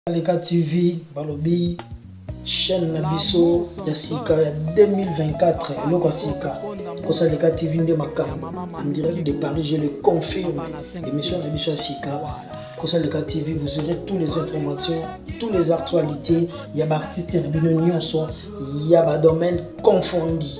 Aleka TV balobi chaîne na biso ya sika ya 2024 eloko ya sika kosaleka tv nde makambo en direct de paris je le confirme émission na biso ya sika kosaleka tv vous aurez tous les informations tous les actualités ya baartiste na bino nyonso ya badomaine confondi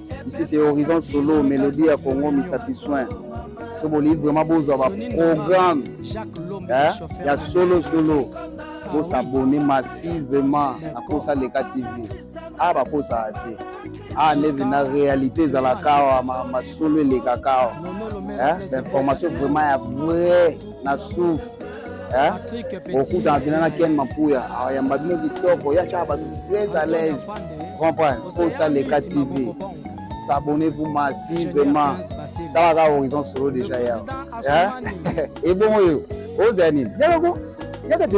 ici c'est horizon solo melodie ya congo misapi soin so bolingi vraiment bozwa baprogramme eh, ya solo solo bosabone massivement na posa leka tv a ah, baposaka te a ah, neve na réalité ezalaka awa masolo elekaka awa eh, bainformation vraiment ya vrai na souffle eh? okutana mpena na ken mapuya ayamba bino kitoko ya tyaka bato très à l'aise comprendre posa leka tv s'abonner vous masi vraiment tala kaka horizon solo déjà ya ebongo yo ozala nini yaloko yaka te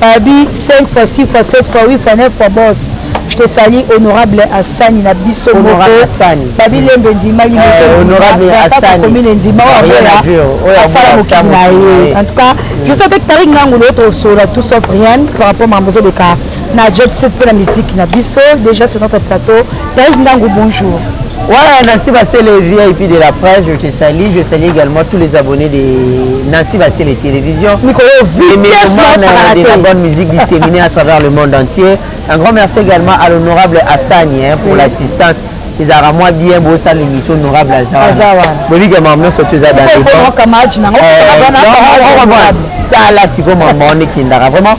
Pabi 5 fois 6 fois 7 fois 8 fois 9 fois boss tosali honorable asani na biso babi lembe endimaki motokomine endima oyo asala mokili na ye en tout cas je sais avec tarik ngangu le autre solo tout sauf rien par rapport mambo ezoleka na jet set mpe na miziki na biso déjà sur notre plateau Taïf Ndangu, bonjour. Voilà, Nancy Bassele, VIP de la presse, je te salue. Je salue également tous les abonnés de Nancy Bassele Télévision. de la bonne musique disséminée à travers le monde entier. Un grand merci également à l'honorable Hassani hein, pour l'assistance. ezalaka mwa bien bosala émission honorable azabolike mama nyonso to eza daokamajnango tala sikoyo mama wana ekendaka vraiment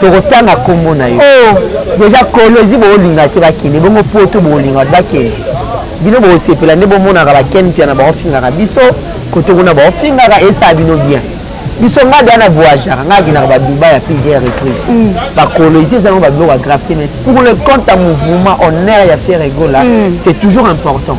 tokotanga nkombo na yo oh. deja kolwezi boolinga te bakende bongo poto boolinga bato bakende bino bokosepela nde bomonaka baken mpia na baofingaka biso kote kuna baofingaka esaa bino bien biso ngai deya na voyageaka ngai akendaka baduba ya plusieurs reprise mm. bakolwezi ezango babiloko ya grave te mais pour le compte ya mouvement honneur ya ferre egola mm. c'est toujours important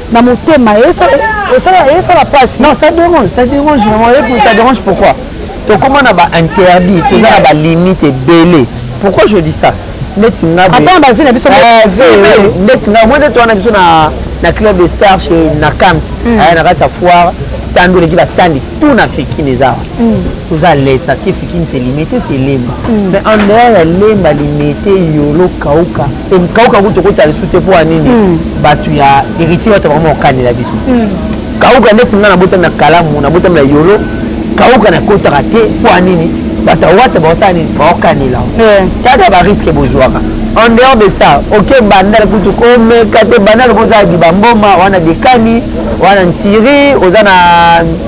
na motema esala pasi non ça dérange ça dérange vraiment ça dérange pourquoi tokoma na bainterdit toza na balimite ebele pourquoi je dis ça ndeti nga bavi na biso ndeti nga mwe ndeti wana biso na club de star chez na cams hmm. aya na kati ya foire stand oleki bastandi tout na afrikine eza awa hmm. toza à l'aise parce que fikini c'est limete c'est lemba mm. mais en dehors ya lemba limete yolo kauka kauka kutu okota lisusu te mpo ya nini mm. bato ya héritier bato vraiment okanela biso mm. kauka ndeti nga nabotami na kalamu nabotami na yolo kauka nakotaka te mpo ya nini bato ya wata baosala nini baokanela tata bariske bozwaka en dehors de ça oke bandal kutu komeka te bandal kozala libamboma wana dekani wana ntiri oza na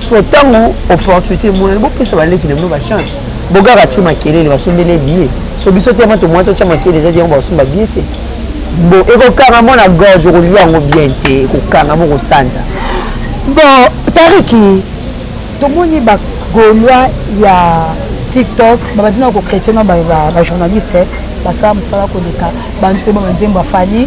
Sikoyo ntango opportunité emonani, bopesa baleki na bino bachance. Bogard atie makelele, basombeli ye billet. So biso te vraiment tomoni totya makelele ezaki yango bakosomba billet te. Bo ekokanga mo na gorge, okolia yango bien te, ekokanga mo kosanza. Bon, Tariki, tomoni ba Gaulois ya TikTok babandi na kochrétien na ba journaliste basala mosala koleka bantu mpe ba banzembo ya Fally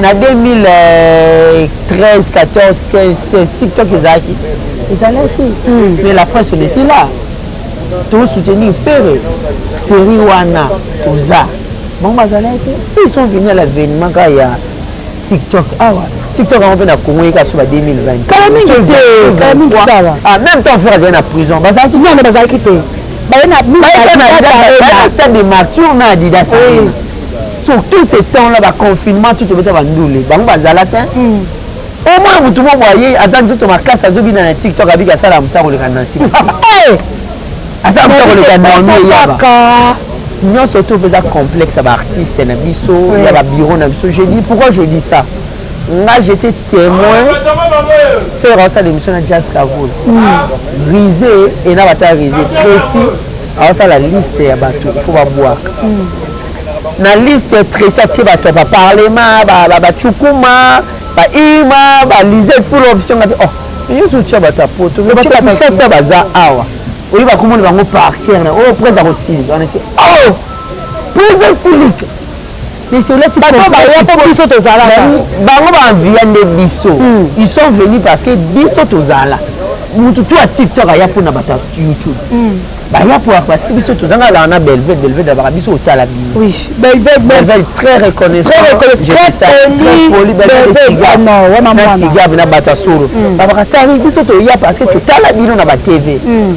Na 2013, 14, 15, 16, TikTok ezalaki ezalaki hmm. mais la presse on était là to soutenir Ferre série wana toza bango bazalaki te ils sont venus à l'avènement kaka ya TikTok awa ah TikTok yango mpe na Congo yeka so ba 2020 kala mingi te kala mingi tala ah même temps Ferre azali na prison bazalaki non bazalaki te baye na stade de martyr na Adidas sur tout ce temps là baconfinement tout obeta bandule bango bazala te hmm. omona motu mo boye aza nzoto makasi azobina na tiktok abiki asala mosa koleka na nsima eh! asala mosa koleka naomi yaba nyonso to eza complexe ya baartiste na biso ya babiro na biso je dis pourquoi je dis ça nga j'étais témoin faire asala émission na jazz kavol hmm. rise et na bata rise précis Asala liste ya bato il faut babwaka na liste Tracy atie bato ya baparlema bacukuma baima balisete pour l'option ngapi oh nyonso otya bato ya poto bato ya kinshasa baza awa oyo bakomona bango parker na oyo oh, prince akosilika wana te oh prince asilika biso tozala bango baenvia nde biso hmm. ils sont venus parce que biso tozala mutu tu ya tiktok aya mpo na bato ya youtube hmm. baya mpo ya parce que biso tozanga laa na belved belved abaka biso otala bino belved très reconnaissancepolibelved na bato ya solo babaka tari biso toya parce que totala bino na batv hmm.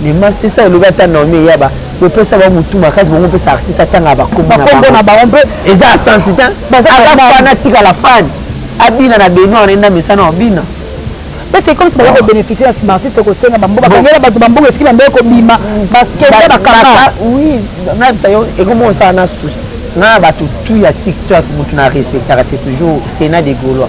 Dema c'est ça elobi ata Naomi eyaba bopesa bango motu makasi bango mpesa artiste atanga bakombo na bango mpe eza ya sensi te ata fana atika la fane abina na beno wana enda mesana obina mpe c'est comme si baza kobénéficie na nsima artiste kosenga bambo bakangela bato bamboka esiki bambe kobima bakende bakaka oui nayebisa yo ekomi osala na susi nga na bato tu ya tiktok motu na respectaka c'est toujours sénat de gaulois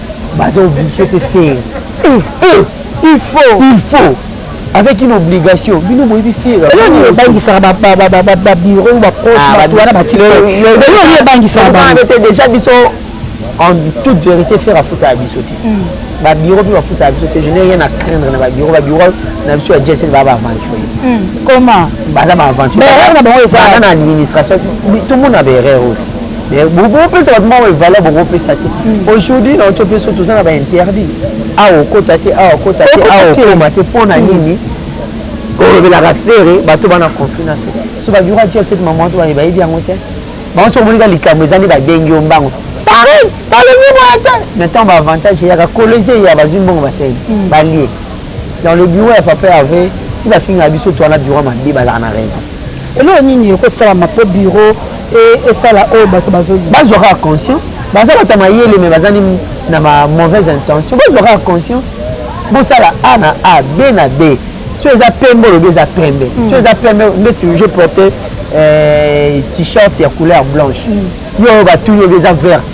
baza oblige te te eh, eh, il faut il faut avec une obligation bino boyebi fieeoyo ebangisaka babiro baproche bato wana batioyo ebangisaka déjà biso en toute vérité faire afuta ya biso te babiro mpe bafuta ya biso te je n'ai rien à craindre na babiro babiro na biso ya gsn baa baaventurier comment baza baaventurier na bango ezaa na administration tomona baerreur oyo mais bokopesa bato moko evaleur bokopesa te hmm. aujourd'hui na oto mpe so toza na bainterdit awa ah, okota te awa ah, okota te awa ah, okoma te mpo na hmm. nini kolobelaka fere bato bana conflit na fere so babiura tia sete mama wato baye bayebi yango te bango soki omonika likambo eza nde babengi yo mbango pareil balobi boye te mais ntango baavantage eyaka kolo eza eya bazwi mbongo basali hmm. balie dans le bureau ya papa ya ve ti bafingaka biso to wana bureau mabe bazalaka na raison Eloko nini ekosalama mpo biro e, esala oyo bato bazoloba? Bazwa kaka conscience, baza bato ya mayele me bazali na ba mauvaise intention. Bazwa kaka conscience, bosala A na A, B na B. So eza pembe olobi eza pembe, mm. so eza pembe ndeti je porte euh, t-shirt ya couleur blanche, mm. yo oyo batuni olobi eza verte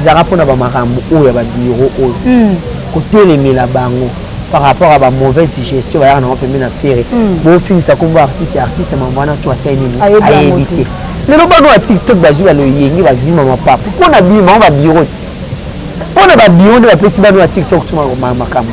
Ezalaka mpo na ba makambo oyo ya ba bureau oyo mm. kotelemela bango par rapport à ba mauvaise gestion bayaka nango pembe na fere mm. bofingisa kombo artiste artiste mambo wana tu asali nini ayebi te lelo bano ya tiktok bazwi baloyenge bazwi mama papa mpo na bima o babiro te mpo na babiro nde bapesi bano ya tiktok tuma makambo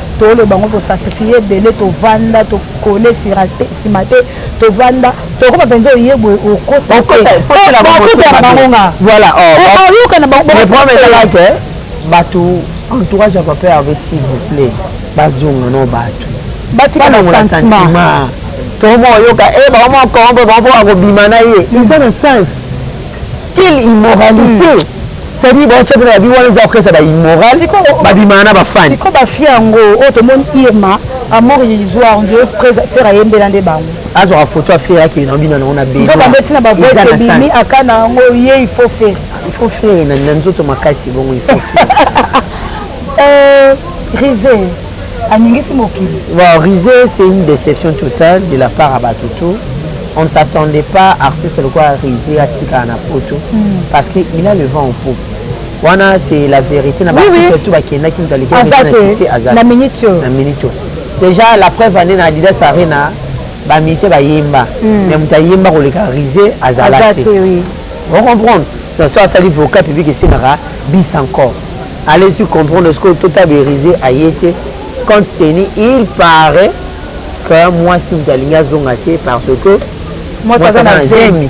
tolo bango ko sacrifier ebele tovanda tokole sima te tovanda tokoma mpenza oye boye okotana bango nga okoyoka na bangoeprometalake bato entourage ya papa herve s'il vous plaît bazonga no bato batikana sentiment tomoyoka e eh, bango moko mpo bakobima na ye eza na sense Quelle immoralité hmm. C'est-à-dire bon chef na bi wana eza orchestre ba immoral ba bimana na ba fan. Siko ba fi yango o oh, to mon Irma a mort yizoa on dirait presa faire ayembela nde bango. Azo ra photo a faire ki na bina na ona be. Nzo ba beti na ba voix e bimi akana yango ye il faut faire. Il faut faire na nzoto makasi bongo il faut faire. Euh, Rizé. aningisi mokili bon rise c'est une déception totale de la part ya bato tout on ne s'attendait pas artiste lokola rise atikala na poto hmm. parce que il a le vent au pot wana c'est la vérité na baartiste tout bakendaki moto alekisi aza na minute na minute déjà la preuve ande na adidas arena bamise bayemba hmm. mais moto ayemba koleka rise azala te ocomprendre so asali vocal public esengaka bis encore Allez tu comprendre ce que Tota Berize aye te compte tenu il paraît que mwasi moto alingi azonga te parce que mwasi aza na zemi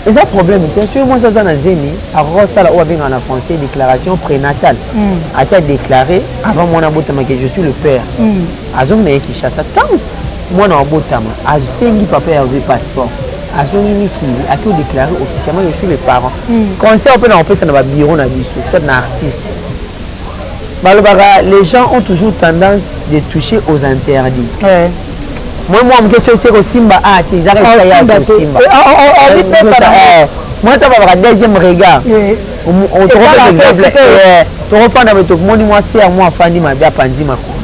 eza problème te soki mwasi aza na zemi akoki kosala oyo abengaka na français déclaration prénatale hmm. ata déclaré avant mwana abotama ke je suis le père hmm. azongi na ye kinshasa ntango mwana wabotama asengi papa ya rue passeport azongi mikili ake odeclare officiellement je suis le parent hmm. conseil oyo mpe na kopesa na babiro na biso soit na artiste balobaka les gens ont toujours tendance de toucher aux interdits ouais. moi mwa moke soki esi ekosimba a te ezaka esika ya kosimba moi ta babaka deuxième regard tokopesa exemple tokofanda boye tokomoni mwasi ya mwa afandi mabe apanzi makolo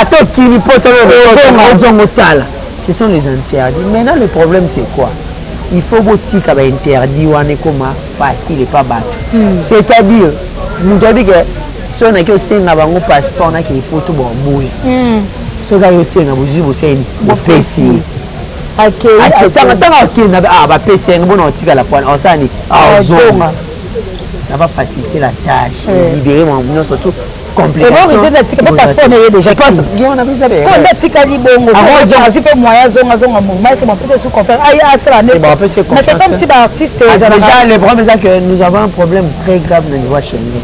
ata okili mposa ozongo osala Ce sont les interdits. Maintenant le problème c'est quoi? Il faut botika ba interdit wana ekoma facile epa bato. Hmm. C'est-à-dire moto ayebi ke soki naki osenga bango passeport naki epoto baboyi. Hmm. Soki ayo osenga bozwi boseni bopesi ye. akesanga ntango akenda ah, bapesi yango bona otikala pwana osala nini ozonga ça va faciliter la tâche eh. libérer nyonso tout atikali bongoazwi mpe moyen azonga azonga mouvement ese bapesi esu confere aye asala nde mais c'est comme si baartiste déjà le problème eza que nous avons un problème très grave na niveau ya chemin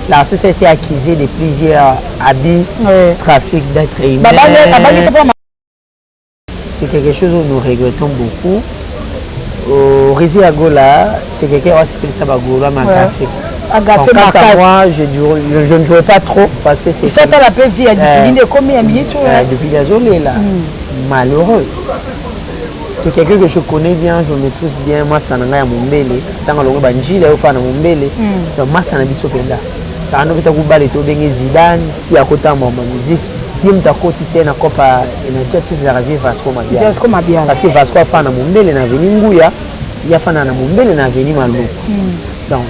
l'artiste a été accusé de plusieurs abus trafic d'être humain c'est quelque chose oyo nous regrettons beaucoup euh, Rizzi ya Gola c'est quelqu'un oyo asepelisa bagolois makasi agafe makasi moi je, je, je ne jouais pas trop parce que c'est ça la petite ya depuis nde komi ya minute oyo depuis ya zone là malheureux c'est quelqu'un que je connais bien je maîtrise bien masta na ngai ya mombele ntango alongo banjila yo faa na mombele donc masta na biso mpenza Tano beta kubale to benge Zidane si akota mwa mwa musique ye moto akotisi ye na copa energie atutizaka vie vasco mabiala parce que vasco afana na mombele na aveni nguya ye afana na mombele na aveni maluku hmm. donc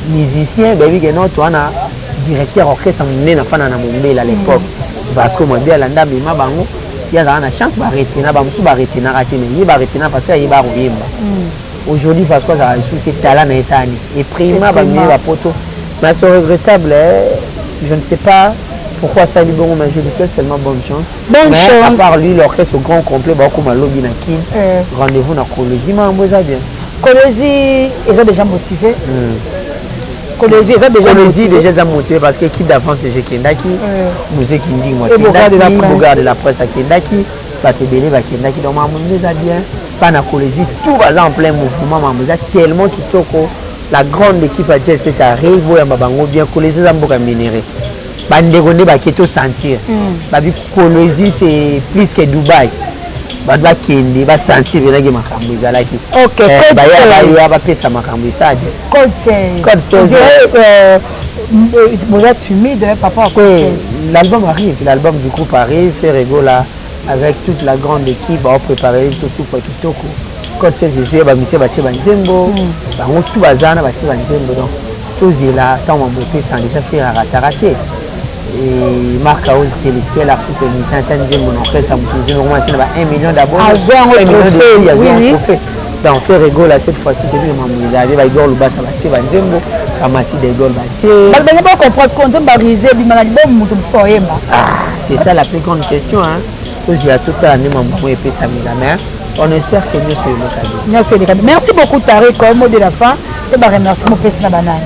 musicien bayebi ke noto wana directeur orchestre monene afana na mombele à l'époque hmm. vasco mabiala nde amema bango ye azalaka na chance baretena bamosusu baretenaka te mais ye baretena parce que ayeba koyemba hmm. Aujourd'hui Vasco azalaka lisusu te tala na etat ni eprima ba mieux ba poto mais c'est regrettable je ne sais pas pourquoi asali bongo mais je lui souhaite seulement bonne chance bonne mais chance. à part lui l'orchestre au grand complet bakokoma lobi na kin euh. rendez-vous na kolezi makambo eza bien kolezi eza déjà motivé mm. kolezi eza déjà kolezi déjà eza motivé parce que équipe d'avance je kendaki museki ndingo akendaki bogarde la presse akendaki bato ebele bakendaki donc makambo nde eza bien mpa na kolezi tout baza en plein mouvement makambo eza tellement kitoko la grande équipe ya jel cet arre boyamba bango bien kolezi eza mboka ya minere bandeko nde bake tosentir mm. babi kolezi c'est plus que dubai bato bakende basentir penaki makambo ezalaki eh, baya bapesa makambo esade boza timide hein, papa oui, l'album arrive l'album du groupe arrive ferregola avec toute la grande équipe baoprépare biso supa kitoko cote sese ezoya bamisie batie banzembo hmm. bango tu baza na batie banzembo donc tozela ntango mabote sans déjà faire aratara te Et Marc Aouz félicité l'artiste musicien ata nzembo na orchestre ya moto nzembo komasi na ba 1 million d'abord azwa yango trophée donc te regola cette fois-ci toyebi mambo ezali baigor lubasa batie banzembo kamasi daigor batie bato baza ba comprendre ko nzembo barise ebima na libomo moto mosusu oyemba c'est ça la plus grande question hein tozela totala nde mambo yango epesamela mais on espère que nyonso elekani nyonso elekani merci beaucoup tare comme mot de la fin mpe baremercie mopesi na banani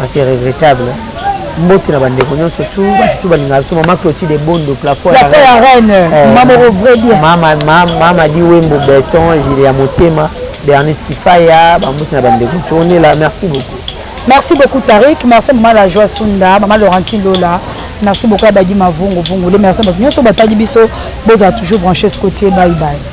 Ah, c'est regrettable. mbote na bandeko nyonso tu bato tu balingaka biso mama clotide bondo plafo ya reine eh, mama oko vrai bien mama mama di wembo beton jile ya motema bernice kifaya bambote na bandeko tonela merci beaucoup merci beaucoup tarik merci mama la joie sunda mama laurentine lola merci beaucoup ya badi mavungu vungu le merci bato nyonso batali biso bozala toujours branche scotier bye bye